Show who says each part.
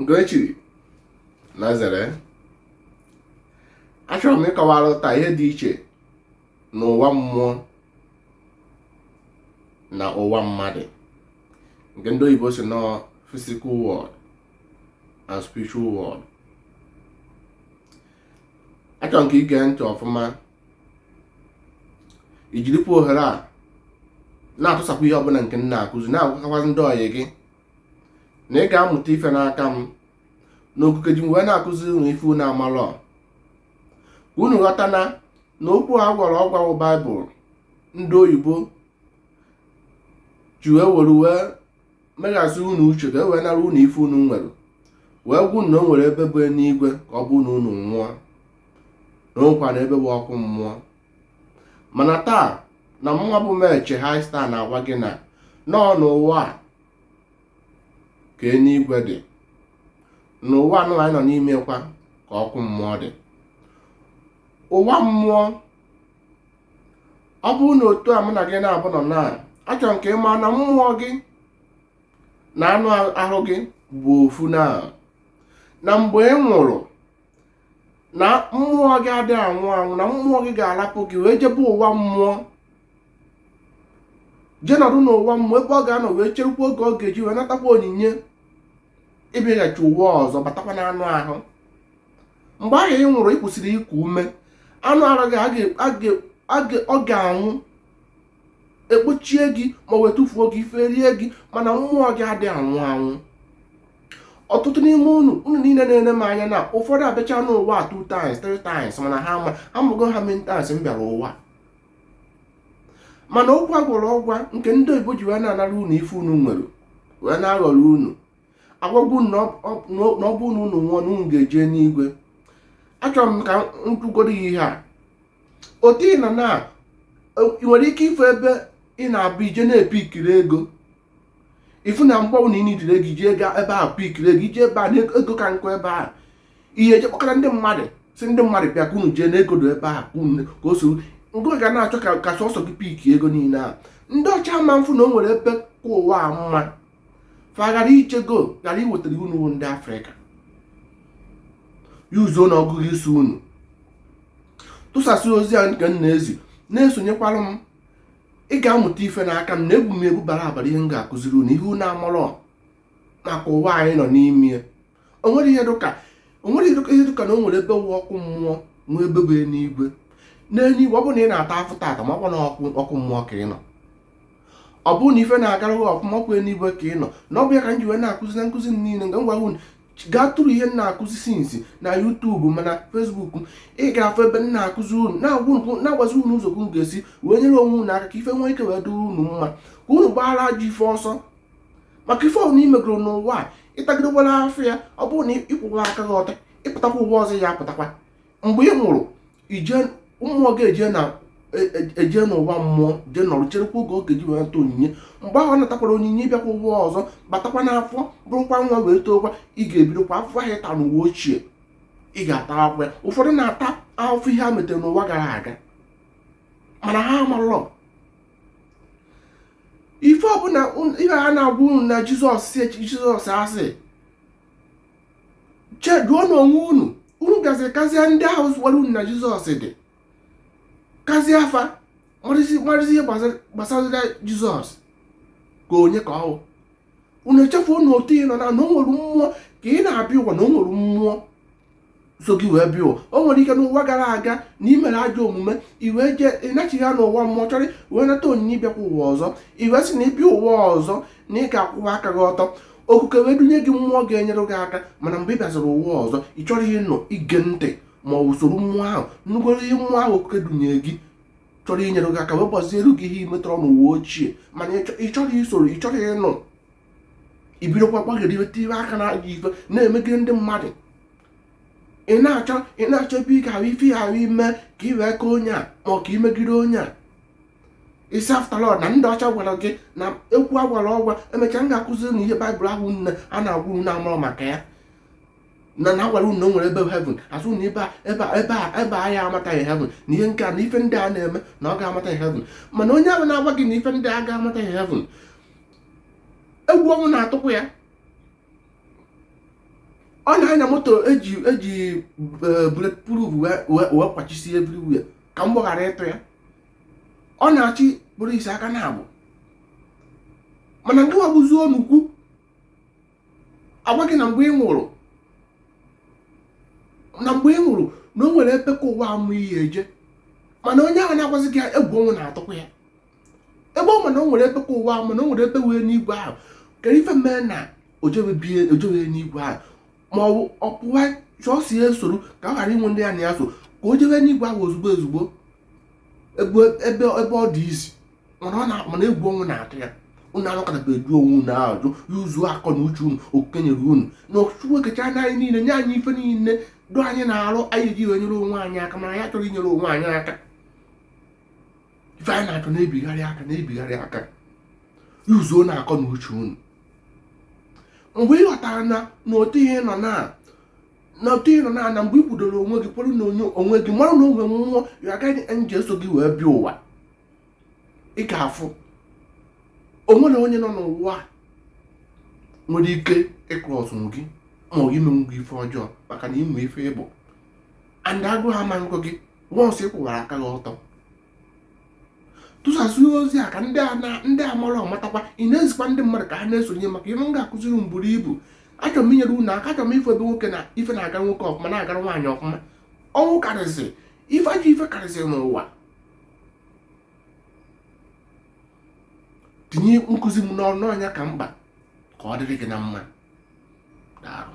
Speaker 1: nke e chiri na zere achọrọ m ịkọwara taa ihe dị iche n'ụwa mmụọ na ụwa mmadụ nke ndị oyibo sị na ọ physical world and spiritual world achọrọ m ka i gee ntị ọfụma i jirikwa ohere a na-atụsapụ ihe ọbụla nke m na-akụzi na-agwakọkwazi ndị ọyị gị na ị ga-amụta ife n'aka m na okike ji m wee na-akụzi unu ife unu amalọ ka unu ghọta na na okwu a gwara ọgwa bụ baịbụl ndị oyibo ji wee were wee meghasị unu uche ka e wee nara unu ife unu nwere wee gwa unu na o nwere ebe bụ enuigwe ka ọ bụ na unu nwụọ na o nwekwara ebe bụ ọkụ mmụọ mana taa na mụwa bụ meche high star na-agwa gị na na ọ n'ụwa a ka eluigwe dị n'ụwa nụwa anyị nọ n'ime kwa ka ọkụ mmụọ dị ụwa mmụọ ọ bụrụ na otu a mụ na gị naabọ nọ na achọrọ m ka ị maa na mmụọ gị na anụ ahụ gị bụ ofu na na mgbe ị nwụrụ na mmụọ gị adịghị anwụ anwụ na mmụọ gị ga-arapụ gị wee jebe ụwa mmụọ jee nọdụ n'ụwa mmụọ ebe ọ ga-anọ wee cherekwa oge ọ ga-eji wee natakwa onyinye ịbịaghachi ụwa ọzọ batakwa n'anụ ahụ mgbe ahụ ị nwụrụ ị kwụsịrị iku ume anụ arụ gị a ga- a ga- a ga- ọ ga-anwụ e kpochie gị ma wee tụfuo gị ife erie gị mana mmụọ gị adịghị anwụ anwụ ọtụtụ n'ime unu unu niile na-ene m anya na ụfọdụ abịacha n'ụwa two times three times mana ha ama amago how many times m bịara ụwa mana okwu a gwara ọgwa nke ndị oyibo ji wee na-anara unu ife unu nwere wee na-aghọri unu agwa unu na ọ bụ na unu nwụọ na unu ga-eje n'igwe achọrọ m ka m kwugodo ihe a otu ị nọ na ị nwere ike ịfụ ebe ị na-abụ i jee na-apikiri ego ifu na mgbanwe na ịnị jiri ego iji ego ebe a pikiri ego i jee ebe a na ego ka nkụ ebe a ihe eje kpọkọrọ ndị mmadụ sị ndị mmadụ bịa ka unu jee na ego dọ ebe a ka unu ka o soro ngụ ga na-achọ ka ka sọsọ gị piki ego niile a ndị ọcha ma fụ na o nwere ebe ka ụwa a mma fa ghara ichego ghara iwetara unu unu ndị afrịka yuzuonụ ọgụgụ isi unu tụsasị ozi a nke m na-ezi na-esonyekwara m ị ga-amụta ife n'aka m na ebu m ebu bara abara ihe m ga-akụziri unu ihe unu amarọ maka ụwa anyị nọ n'ime o nwere ihe dịka o nwere ihe dịka na o nwere ebe wụ ọkụ mmụọ nwee ebe bụ enuigwe n'enuigwe ọ bụrụ na ị na-ata afụfụ tata ma ọkwa na ọkụ mmụọ ka ị nọ ọ bụrụ na ife na-agara gị ọfụma ọkwa enuigwe ka ị nọ na ọ bụ ya ka m ji wee na-akụzi na nkụzi niile m ga-agwa unu gaa through ihe m na-akụzi since na youtube ma na facebook ị ga-afụ ebe m na-akụzi unu na-agwazi unu ụzọ unu ga-esi wee nyere onwe unu aka ka ife nwee ike wee dịrị unu mma ka unu gbaara ajọ ife ọsọ maka ife ọbụla i megoro n'ụwa a ị tagidewere afụfụ ya ọ bụrụ na ị kwụwa aka gị ọtọ ị pụtakwa ụwa ọzọ ya apụtakwa mgbe ị nwụrụ ije mmụọ gị eje na e, e, eje n'ụwa mmụọ jee nọrọ cherekwa oge ọ ga-eji wee nata onyinye mgbe ahụ ọ natakwara onyinye ịbịakwa ụwa ọzọ batakwa n'afọ bụrụkwa nwa wee tookwa ị ga-ebidokwa afụfụ ahụ ịta n'ụwa ochie ị ga-atakwu ya ụfọdụ na-ata ahụfụ ihe ha metere n'ụwa gara aga mana ha amarọ ife ọbụla ife ha na-agwa unu na jizọs si jizọs a sị jụọnụ onwe unu unu bịaziri kazie ndị ahụ gwara unu na jizọs dị kazie fa marazi ihe gbasara jizọs ka onye ka ọ wụ unu echefuo na otu ị nọ na na o nwere mmụọ ka ị na-abịa ụwa na o nwere mmụọ so gị wee bịa ụwa o nwere ike n'ụwa gara aga na ị mere ajọ omume i wee jee ị nachighaa n'ụwa mmụọ chọrọ wee nata onyinye ịbịakwa ụwa ọzọ i wee sị na ị bịa ụwa ọzọ na ị ga-akwụwa aka gị ọtọ okike wee dunye gị mmụọ ga-enyere gị aka mana mgbe ị bịaziri ụwa ọzọ ị chọrọ ịnụ ige ntị ma ọ bụ isoro mmụọ ahụ nnugoro ihe mmụọ ahụ okike dunye gị chọrọ inyere gị aka wee gbaziere gị ihe i metọrọ n'ụwa ochie mana ị chọrọ isoro ị chọrọ ịnụ i bidokwa gbagidebe tibe aka na ajọ ife na-emegide ndị mmadụ ị na-achọ ị na-achọ ebe ị ga-ahụ ife ahụ ime ka ị wee ka onye a ma ọ ka i megide onye a ị sị after all na ndị ọcha gwara gị na ekwu agwara ọgwa emechaa m ga-akụzi unu ihe baịbụl ahụ nne a na-agwa unu na-amụrụ maka ya na na agwara unu na o nwere ebe heaven a sị na ebe ebe ebe ebe ahịa anata gị heaven na ihe nke a na ife ndị a na-eme na ọ ga-anata gị heaven mana onye ahụ na-agwa gị na ife ndị a ga-anata gị heaven egwu ọnwụ na-atụkwu ya ọ na-anya moto eji eji e, bulletproof wee kwachisi everywhere ka mgbọ ghara ịtụ ya ọ na-achị polisi aka naabọ mana ngị wa bụzi onukwu a gwa gị na mgbe ị nwụrụ na mgbe ị nwụrụ na o nwere ebe ka ụwa mma ị ya-eje mana onye ahụ na-agwazi gị egwu ọnwụ na-atụkwu ya ebe ọ ma na o nwere ebe ka ụwa ahụ ma na o nwere ebe wee n'igwe ahụ kedụ ife mee na o jewe n'igwe ahụ ma ọ bụ ọ pụwa chọọsi ya esoro ka ọ ghara inwe ndị ya na ya so ka o jewe n'igwe ahụ ozugbo ozugbo ebe ọ dị easy mana egwu ọnwụ na-atụ ya unu anọkọtabe edu onwe unu ajụ iyuzu akọ na uche unu e kenyere unu na Chukwu ekecha na anyị niile nye anyị ife niile dị anyị n'arụ anyị ji wee nyere onwe anyị aka mana anyị achọrọ inyere onwe anyị aka ife anyị na-achọ na-ebigharị aka na-ebigharị aka yuzuonụ akọ na uche unu mgbe ị ghọtara na na otu ihe nọ na na mgbe ị kwudoro onwe gị kwere na onwe gị mara na o nwe mmụọ ya agaghị nji eso gị wee bịa ụwa ị ga-afụ o nwerọ onye nọ n'ụwa nwere ike ịkụrụ ọsụm gị ma ọ bụ menwu gị ife ọjọọ maka na ị ma ife ị bụ and agụụ ama nkụ gị once ị kwụwara aka gị ọtọ tụsasịa ozi a ka ndị amarọ matakwa ị na-ezikwa ndị mmadụ ka ha na-esonye maka ihe m ga-akụziri unu buru ibu achọrọ m inyere unu aka achọrọ m ife ebe nwoke na ife na-aga nwoke ọfụma na-agara nwaanyị ọfụma ọnwụ karịsịrị ife ajọ ife karịsịrị n'ụwa tinye nkụzi m n'ọrụ na ọ ya ka mkpa ka ọ dịrị gị na mma daarụ